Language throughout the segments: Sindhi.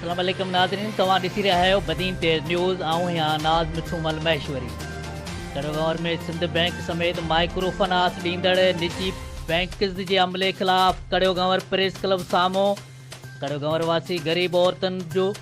اسلام عليڪم ناظرين توهان ڏسي رهيا آهيو بدين تيز نيوز آئون هيان ناز مٺو مل مهيشوري ڪڙو ڀنور ۾ سنڌ بئنڪ سميت مائڪرو فناس ڏيندڙ نجي بئنڪز جي عملي خلاف ڪڙو ڀنور پريس ڪلب سامهون ڪڙو ڀنور واسي غريب عورتن جو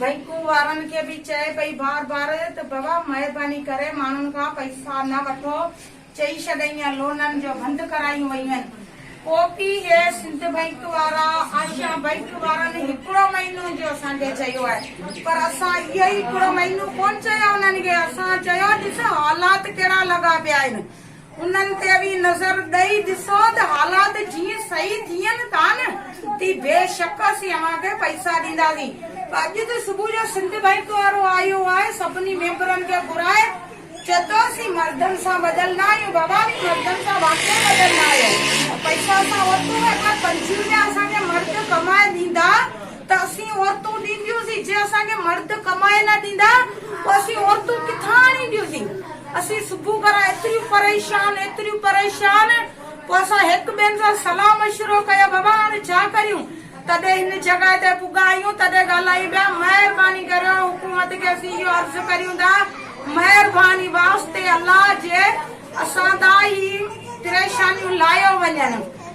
بئنڪون وارن کي به چئي پئي بار بار ته بابا مهرباني ڪري ماڻهن کان پئسا نه وٺو چئي ڇڏئين ۽ لونن جو بند ڪرايون ويون پو پي هي سنڌ بئنڪ وارا آشا بئنڪ وارن هڪڙو مهينو جو اسان کي چيو آهي پر اسان اهي هڪڙو مهينو ڪون چيو انهن کي اسان چيو ڏس حالات ڪهڙا لڳا پيا آهن انهن تي به نظر ڏئي ڏسو ته حالات جيئن صحيح ٿين ٿا نه تي بيشڪ اسين اوهان کي پئسا ڏينداسين. اڄ ته صبح جو سنڌ بئنڪ وارو آيو آهي سڀني ميمبرن کي گهرائي چئي ٿو اسين مردن سان ٻڌل نه آهيون بابا اوهين مردن سان واقعي ٻڌل نه آهيو پئسا اسان ورتو هو ايڪ لک پنجويهه هزار اسان کي مرد ڪمائي ڏيندا ته اسين عورتون ڏينديونسين، جي اسان کي مرد ڪمائي نه ڏيندا پوء اسين عورتون ڪٿان آڻينديونسين، اسين صبح کان رات ايتريون پريشان، ايتريون پريشان، پوء اسان هڪ ٻين سان صلاح مشورو ڪيو بابا هاڻي ڇا ڪريون، تڏهن هن جڳهه تي پڳا آهيون تڏهن ڳالهائين پيا، مهرباني ڪريو حڪومت کي اسين اهو عرض ڪريون ٿا مهرباني واسطي الله جي اسان تان هي پريشانيون لاهيو وڃن.